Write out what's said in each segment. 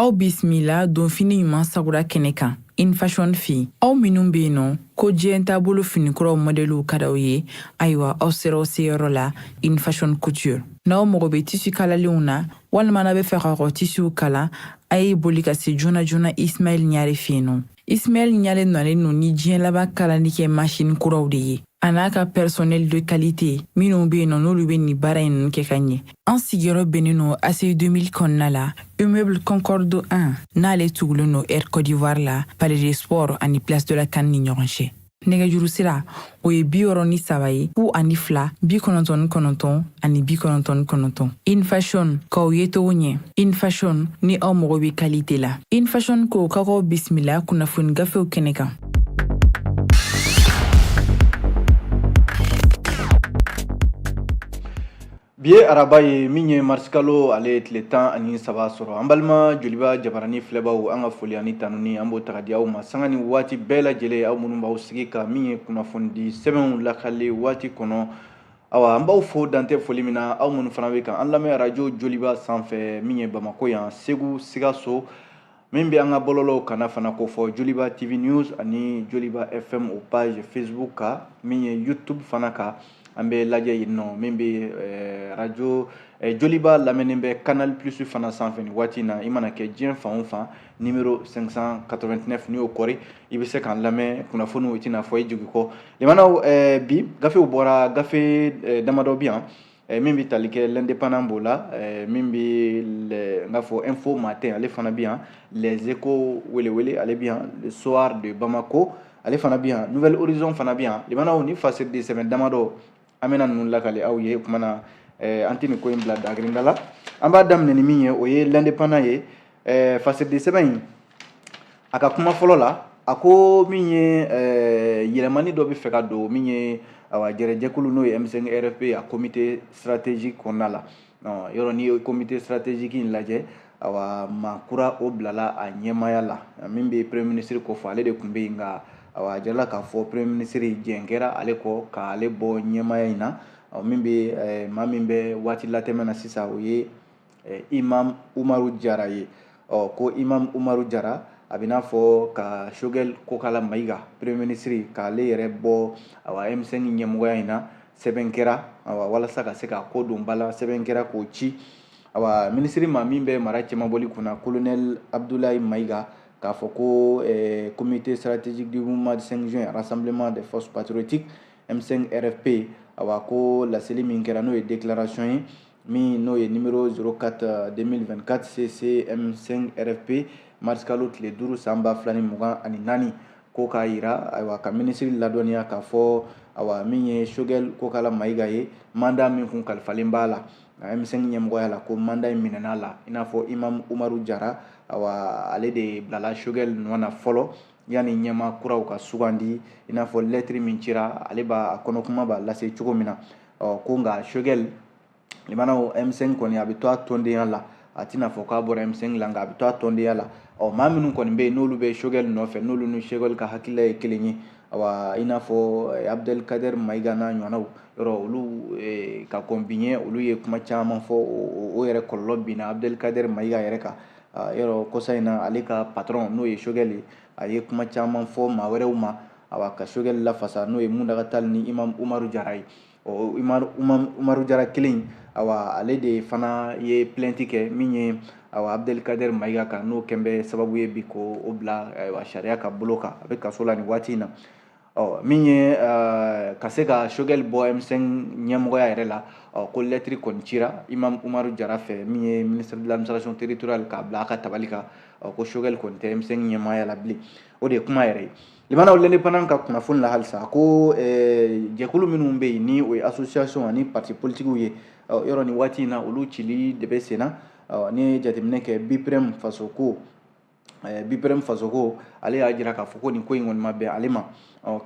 aw bisimila donfini ɲuman sagura kɛnɛ kan In Fashion fɛ aw minnu bɛ yen nɔ ko diɲɛ taabolo finikuraw mɔdɛliw ka d'aw ye ayiwa aw sera aw seyɔrɔ la In Fashion couture n'aw mago bɛ tisi kalalenw na walima n'a bɛ fɛ ka kɔ tisiw kala a ye boli ka se joona joona ismail ɲare fɛ yen nɔ Ismail Ɲare nalen no ni diɲɛ laban kalali kɛ masini kuraw de ye a n'a ka personnel de qualité minnu bɛ yen nɔ n'olu bɛ nin baara in kɛ ka ɲɛ an sigiyɔrɔ bɛnnen no ACI 2000 kɔnɔna la immeuble concorde 1 n'ale tugulen no air cote d'ivoire la palais des sports ani place de la CAN ni ɲɔgɔn cɛ nɛgɛjuru sira o ye bi wɔɔrɔ ni saba ye fu ani fila bi kɔnɔntɔn ni kɔnɔntɔn ani bi kɔnɔntɔn ni kɔnɔntɔn In Fashion k'aw yecogo ɲɛ In Fashion ni aw mago bɛ kalite la In Fashion ko ka k'aw bisimila kunnafoni gafew kɛnɛ kan bi ye araba ye min ye marisikalo ale tile tan ani saba sɔrɔ an balima joliba jabarani filɛbaw an ka foli ani tanuni an b'o taga di aw ma sanga ni waati bɛɛ lajɛlen aw minnu b'aw sigi ka min ye kunnafonidi sɛbɛnw lakali waati kɔnɔ awa an b'aw fo dan tɛ foli min na aw minnu fana bɛ kan an lamɛn arajo joliba sanfɛ min ye bamako yan segu sikaso min bɛ an ka bɔlɔlɔw kanna fana kofɔ joliba tv news ani joliba fm o page facebook kan min ye youtube fana kan an bɛ lajɛ yen nɔ min bɛ eh, radio eh, joliba lamɛnnen bɛ canal plus fana sanfɛ nin waati in na i mana kɛ diɲɛ fan o fan numéro 589 n'i y'o kɔri i bɛ se k'an lamɛn kunnafoniw i tɛna fɔ i jigi kɔ limanaw eh, bi gafew bɔra gafe damadɔ bi yan Eh, min bɛ tali kɛ l'indépendant b'o la eh, min bɛ n k'a fɔ info matin ale fana bɛ yan les échos welewele ale bɛ yan le soir de bamako ale fana bɛ yan nouvel horizon fana bɛ yan limanaw ni fasiridi sɛbɛn damadɔ an bɛna ninnu lakali aw ye o kuma na eh, an tɛ nin ko in bila dagirinda la an b'a daminɛ ni min ye o ye l'indépendant ye ɛɛ fasiridi sɛbɛn in a ka kuma fɔlɔ la a ko min ye ɛɛ yɛlɛmani dɔ bɛ fɛ ka don min ye awa gɛrɛjɛkulu n'o ye M5 RFP a comité stratégique kɔnɔna la yɔrɔ n'i ye comité stratégique in lajɛ awa maa kura o bilala a ɲɛmaya la min bɛ premier ministre kofɔ ale de tun bɛ yen nka awa a jirala k'a fɔ premier ministre jɛn kɛra ale kɔ k'ale bɔ ɲɛmaya in na min bɛ maa min bɛ waati latɛmɛ na sisan o ye imam umaru jara ye ɔ ko imam umaru jara a bɛn'a fɔ ka Choguel kokala mayiga premier ministre k'ale yɛrɛ bɔ awa M5 ɲɛmɔgɔya in na sɛbɛn kɛra awa walasa ka se ka ko don ba la sɛbɛn kɛra k'o ci awa minisiri ma min bɛ mara cɛmabɔli kunna kolonɛl abdulayi mayiga k'a fɔ ko eh, comité stratégique du mouvement du 5 juin rassemblement des forces patriotiques m5 rfp awa ko laseli min kɛra n'o ye déclaration ye min n'o ye nimero 04 2024 cc m5 rfp marisikalo tile duuru san ba fila ni mugan ani naani ko k'a yira ayiwa ka minisiri ladɔnniya k'a fɔ ayiwa min ye sogɛli kokala mayiga ye manda min kun kalifalen b'a la m5 ɲɛmɔgɔya la ko manda in minɛn'a la i n'a fɔ imam umaru jara ayiwa ale de bilala sogɛli nɔ na fɔlɔ yanni ɲɛma kuraw ka sugandi i n'a fɔ lɛtiri min cira ale b'a kɔnɔkuma b'a lase cogo min na ɔ ko nka sogɛli limanaw m5 kɔni a bɛ to a tɔndenya la a tɛna fɔ k'a bɔra m5 la nka a bɛ to a tɔndenya la ɔ maa minnu kɔni bɛ yen n'olu bɛ sogɛli nɔfɛ n'olu ni sogɛli ka hakilila ye kelen ye awa i n'a fɔ eh, abdelkader maiga n'a ɲɔgɔnnaw yɔrɔ olu eh, ka kɔn bi ɲɛ olu ye kuma caman fɔ o yɛrɛ kɔlɔlɔ binna abdelkader maiga yɛrɛ kan ah, yɔrɔ kɔsa in na ale ka patron n'o ye sogɛli ye a ye kuma caman fɔ maa wɛrɛw ma awa ka sogɛli lafasa n'o ye muntaga tali ni imam umaru jara ye ɔ umaru jara kelen awa ale de fana ye plɛnti kɛ min ye awa abdelkader mayiga kan n'o kɛn bɛ sababu ye bi ko o bila ayiwa sariya ka bolo kan a bɛ kaso la nin waati in na ɔ min ye eh, ka se ka sogɛli bɔ m5 ɲɛmɔgɔya yɛrɛ la ɔ ko lɛtiri kɔni cira imam umaru jara fɛ min ye ministre de l'administration territoriale k'a bila a ka tabali kan ɔ ko sogɛli kɔni tɛ m5 ɲɛmaaya la bilen o de ye kuma yɛrɛ ye limanaw l'indépendant ka kunnafoni la halisa a ko jɛkulu minnu bɛ yen ni o ye association ani parti politikiw ye yɔrɔ nin waati in na olu cili de bɛ sen na n'i ye jateminɛ kɛ biprɛm fasoko biprɛm fasoko ale y'a jira k'a fɔ ko nin ko in kɔni ma bɛn ale ma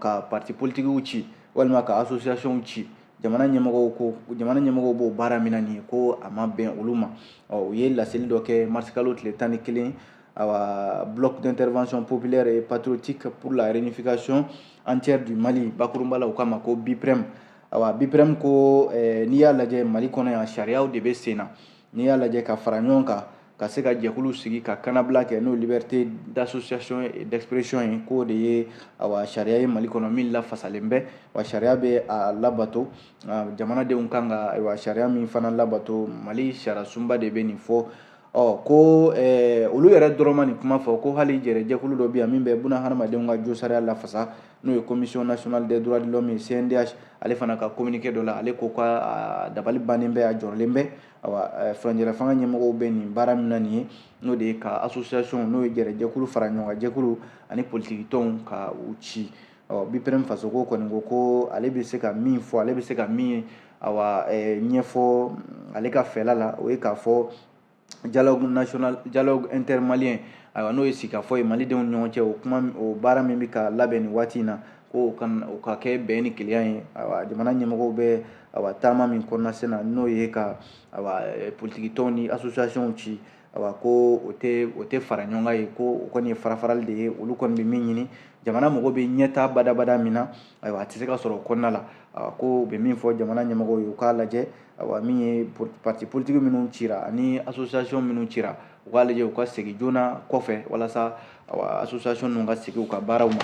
ka parti politikiw ci walima ka associationw ci jamana ɲɛmɔgɔw ko jamana ɲɛmɔgɔw b'o baara min na nin ye ko a ma bɛn olu ma u ye laseli dɔ kɛ marisikalo tile tan ni kelen awa bloc d'intervention populaire et patriotique pour la réunification entière du Mali bakurunba la u k'a ma ko BIPREM awa BIPREM ko eh, n'i y'a lajɛ Mali kɔnɔ yan sariyaw de bɛ sen na n'i y'a lajɛ ka fara ɲɔgɔn kan ka se ka jɛkulu sigi ka kanabila kɛ n'o liberté d'association et d'expression ye k'o de ye awa sariya ye mali kɔnɔ min lafasalen bɛ wa sariya bɛ a labato jamanadenw kan ka ayiwa sariya min fana labato mali sariyasunba de bɛ nin fɔ ɔ ko eh, olu yɛrɛ dɔrɔn ma nin kuma fɔ ko hali jɛrɛjɛkulu dɔ bɛ yan min bɛ buna hadamadenw ka josariya lafasa n'o ye commission nationale des droits de l'homme ye cndh ale fana ka communiqué dɔ la ale ko k'a dabali bannen bɛ a jɔrɔlen bɛ awa eh, furancɛla fanga ɲɛmɔgɔw bɛ nin baara min na nin ye n'o de ye ka association n'o ye jɛrɛjɛkulu fara ɲɔgɔn kan jɛkulu ani politiki tɔnw ka u ci ɔ biprem fasoko kɔni ko ko ale bɛ se ka min fɔ ale bɛ se ka min awa ɲɛfɔ ale ka fɛla la o ye k'a fɔ dialogue national dialogue intermalien ayiwa n'o ye sigikafɔ ye malidenw ni ɲɔgɔn cɛ o kuma o baara min bɛ ka labɛn nin waati in na ko o ka o ka kɛ bɛn ni kelenya ye ayiwa jamana ɲɛmɔgɔw bɛ ayiwa taama min kɔnɔna sen na n'o ye ka ayiwa politikitɔnw ni associationw ci awa ko o tɛ o tɛ fara ɲɔgɔn kan ye ko o kɔni ye farafarali de ye olu kɔni bɛ min ɲini jamana mago bɛ ɲɛtaa badabada min na ayiwa a tɛ se ka sɔrɔ o kɔnɔna la ko u bɛ min fɔ jamana ɲɛmɔgɔw ye u k'a lajɛ awa min ye parti politique minnu cira ani association minnu cira u k'a lajɛ u ka segin joona kɔfɛ walasa awa association ninnu ka segin u ka baaraw ma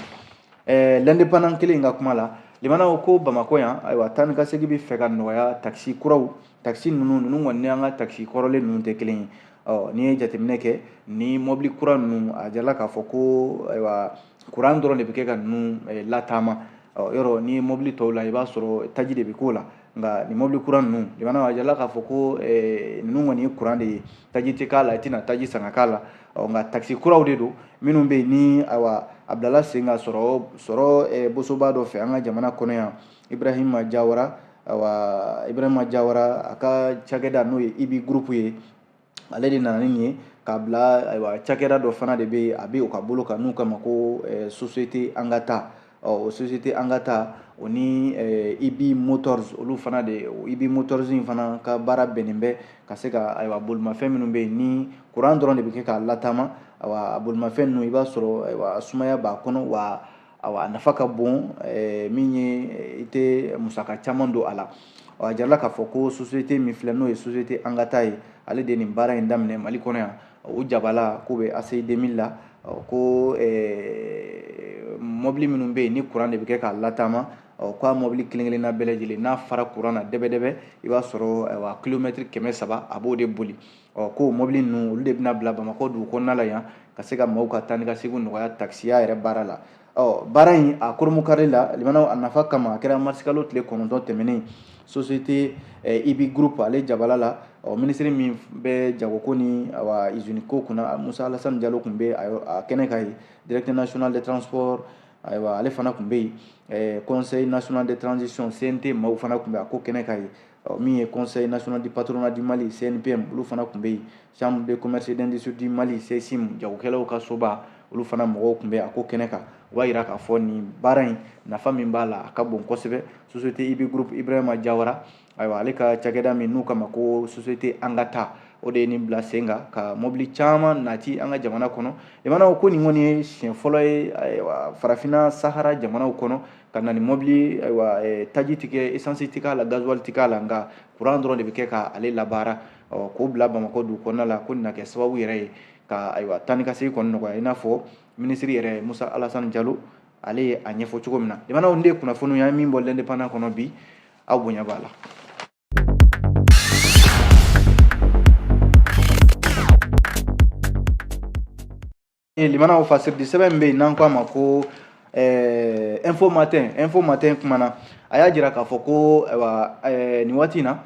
ɛɛ l'indépendant kelen in ka kuma la limanaw ko bamakɔ yan ayiwa taa ni ka segin bɛ fɛ ka nɔgɔya takisi kuraw takisi ninnu ninnu kɔni ni an ka takisi kɔrɔlen ninnu tɛ kelen ye ɔ n'i ye jateminɛ kɛ ni mɔbili kura ninnu a jirala k'a fɔ ko ayiwa kuran dɔrɔn de bɛ kɛ ka ninnu eh, lataama ɔ yɔrɔ ni mɔbili tɔw la i b'a sɔrɔ taji de bɛ k'o la nka nin mɔbili kura ninnu limanaw a jirala k'a fɔ ko eh, ninnu kɔni ye kuran de ye taji tɛ k'a la i tɛna taji san ka k'a la ɔ nka takisi kuraw de don minnu bɛ yen ni ayiwa a bilala sen ka sɔrɔ sɔrɔ eh, bosoba dɔ fɛ an ka jamana kɔnɔ yan ibrahima jawara awa ibrahima jawara a ka cakɛda n'o ye ibi groupe ye ale de nana ni nin ye k'a bila ayiwa cakɛda dɔ fana de bɛ a bɛ o ka bolo kan n'u k'a ma ko eh, société an ka taa ɔ o société an ka taa o ni eh, ibi motors olu fana de ibi motors in fana ka baara bɛnnen bɛ ka se ka ayiwa bolimafɛn minnu bɛ yen ni kuran dɔrɔn de bɛ kɛ k'a lataama ayiwa bolimafɛn ninnu i b'a sɔrɔ ayiwa sumaya b'a kɔnɔ wa A nafa ka bon min ye i tɛ musaka caman don a la a jirala k'a fɔ ko société min filɛ n'o ye société an ka taa ye ale de nin baara in daminɛ mali kɔnɔ yan o jabala k'u bɛ aci deux mille la ko mɔbili minnu bɛ yen ni kuran de bɛ kɛ k'a lataama ɔ k'a mɔbili kelenkelenna bɛɛ lajɛlen n'a fara kuran na dɛbɛdɛbɛ i b'a sɔrɔ kilomɛtiri kɛmɛ saba a b'o de boli ɔ ko mɔbili ninnu olu de bɛna bila bamakɔ dugu kɔnɔna la yan ka se ka maaw ka taa ni ka segin nɔgɔya takisiya yɛrɛ baara la ɔ baara in a kurunbonkari la limanaw a nafa kama a kɛra marisikalo tile kɔnɔntɔn tɛmɛnen société eh, ibi groupe ale jabala la ɔ minisiri min bɛ jagoko ni awa iziniko kunna musa alasani jalo tun bɛ a kɛnɛ kan yen directeur national des transports ayiwa ale fana tun bɛ yen conseil national de transition cnt maaw fana tun bɛ a ko kɛnɛ kan yen ɔ min ye conseil national du patronat du mali cnpm olu fana tun bɛ yen chambre de commerce d'industrie du mali ccim jagokɛlaw ka soba olu fana mɔgɔw tun bɛ a ko kɛnɛ kan o b'a jira k'a fɔ nin baara in nafa min b'a la a ka bon kosɛbɛ société ibi groupe ibrahima jawara ayiwa ale ka cakɛda min n'u k'a ma ko société angata o de ye nin bila sen kan ka mɔbili caman nati an ka jamana kɔnɔ limanaw ko nin kɔni ye siɲɛ fɔlɔ ye farafinna sahara jamanaw kɔnɔ ka na ni mɔbili ayiwa eh, taji tɛ kɛ esansi tɛ k'a la gazuwali tɛ k'a la nka kuran dɔrɔn de bɛ kɛ k'ale labaara k'o bila bamakɔ dugu kɔnɔna la ko nin na kɛ sababu yɛrɛ ye ka ayiwa taa ni ka segin kɔni nɔgɔya i n'a fɔ minisiri yɛrɛ musa alasani jalo ale ye a ɲɛfɔ cogo min na jamanaw nin de ye kunnafoniw y'an ye min bɔ l'indépendant kɔnɔ bi aw bonya b'a la limanaw fasiridi sɛbɛn min bɛ yen n'an k'a ma ko eh, info matin info matin kumana a y'a jira k'a fɔ ko ayiwa eh, nin waati in na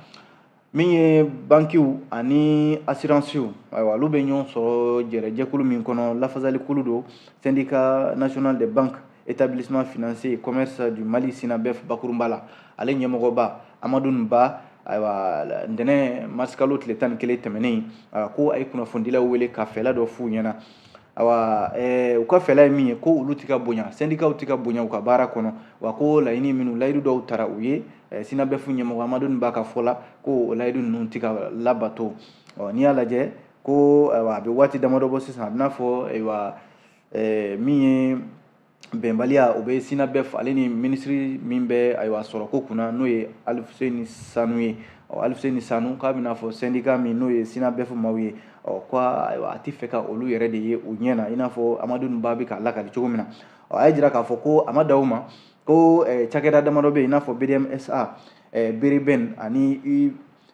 min ye bankiw ani asiransiw ayiwa olu bɛ ɲɔgɔn sɔrɔ jɛrɛ jɛkulu min kɔnɔ lafasalikulu don syndicat national des banques établissement financier commerce du mali sinabɛf bakurunba la ale ɲɛmɔgɔba amadun ba ayiwa ntɛnɛn marisikalo tile tan ni kelen tɛmɛnen ayiwa ko a ye kunnafonidilaw wele ka fɛla dɔ f'u ɲɛ na ayiwa ɛɛ u ka fɛla ye min ye ko olu ti ka bonya sɛndikaw ti ka bonya u ka baara kɔnɔ wa ko laɲini minnu layidu dɔw tara u ye sinabɛfu ɲɛmɔgɔ amadun ba ka fɔ la ko o layidu ninnu ti ka labato ɔ n'i y'a lajɛ ko ayiwa a bɛ waati damadɔ bɔ sisan a bɛ n'a fɔ ayiwa ɛɛ min ye bɛnbaliya o bɛ sinabɛf ale ni minisiri min bɛ ayiwa sɔrɔko kunna n'o ye aluseni sanu ye ɔ aluseni sanu k'a bɛ n'a fɔ sɛndika min n'o ye sinabɛf maaw ye ɔ ko ayiwa a tɛ fɛ ka olu yɛrɛ de ye u ɲɛ na i n'a fɔ amadu ba bɛ k'a lakali cogo min na ɔ a y'a jira k'a fɔ ko a ma dan o ma ko cakɛda damadɔ bɛ yen i n'a fɔ bdmsa berebɛn ani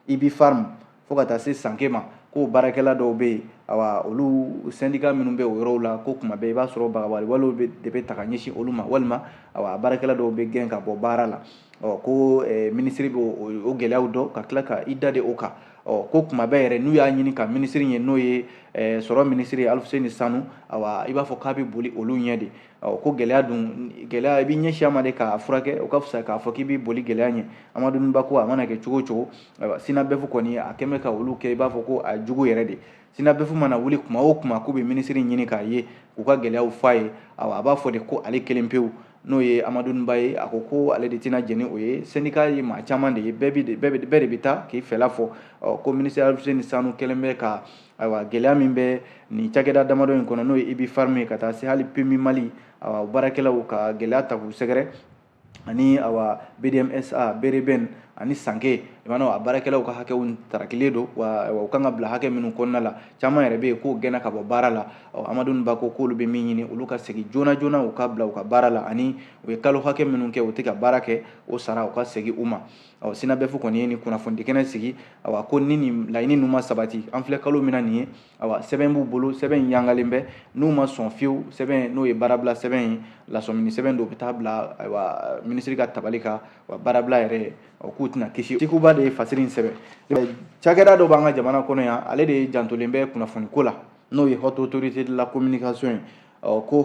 ubipharm fo ka taa se sanke ma ko baarakɛla dɔw bɛ yen awa olu sɛndika minnu bɛ o yɔrɔw la ko kuma bɛɛ i b'a sɔrɔ bagabagali walew de bɛ ta ka ɲɛsin olu ma walima awa baarakɛla dɔw bɛ gɛn ka bɔ baara la ɔ ko eh, minisiri bɛ o gɛlɛyaw dɔn ka tila ka i dade o kan ɔ ko kuma bɛɛ yɛrɛ n'u y'a ɲini ka minisiri ye n'o ye eh, sɔrɔ minisiri aluseni sanu awa i b'a fɔ k'a bɛ boli olu ɲɛ de ɔ ko gɛlɛya dun gɛlɛya i b'i ɲɛsin a ma de k'a furakɛ o ka fisa k'a fɔ k'i b'i boli gɛlɛya ɲɛ amadu ba ko a mana kɛ cogo o cogo ayiwa sinabɛfu kɔni a kɛlen bɛ ka olu kɛ i b'a fɔ ko a jugu yɛrɛ de sinabɛfu mana wuli kuma o kuma k'u bɛ minisiri ɲini k'a ye k'u ka gɛlɛyaw fɔ a ye awa a b'a fɔ de ko ale kelen pewu n'o ye amadu ba ye a ko ko ale de tɛna jɛn ni o ye sɛndika ye maa caman de ye bɛɛ de bɛ taa k'i fɛla fɔ ɔ ko minisiri aluseni sanu kɛlen bɛ ka ayiwa gɛlɛya min bɛ nin cakɛda damadɔ in kɔnɔ n'o ye ubipharm ye ka taa se hali pmu mali awa baarakɛlaw ka gɛlɛya ta k'u sɛgɛrɛ ani awa bdmsa bereben ani sanke i b'a dɔn a baarakɛlaw ka hakɛw tarakilen don wa u kan ka bila hakɛ minnu kɔnɔna la caman yɛrɛ bɛ yen k'o gɛnna ka bɔ baara la ɔ amadu ba ko k'olu bɛ min ɲini olu ka segin joona joona u ka bila u ka baara la ani u ye kalo hakɛ minnu kɛ u tɛ ka baara kɛ o sara u ka segin u ma ɔ synabef kɔni ye nin kunnafonidi kɛnɛ sigi awa ko ni nin laɲini ninnu ma sabati an filɛ kalo min na nin ye awa sɛbɛn b'u bolo sɛbɛn in yangalen bɛ n'u ma sɔn fiyewu sɛbɛn n'o ye baarabila sɛbɛn ye lasɔmini sɛbɛn don u bɛ taa bila ayiwa minisiri ka tabali kan wa baarabila yɛrɛ o k'u tɛna kisi tikuba de ye fasiri in sɛbɛn cakɛda dɔ b'an ka jamana kɔnɔ yan ale de jantolen bɛ kunnafoni ko la n'o ye haute autorité de la communication ye ko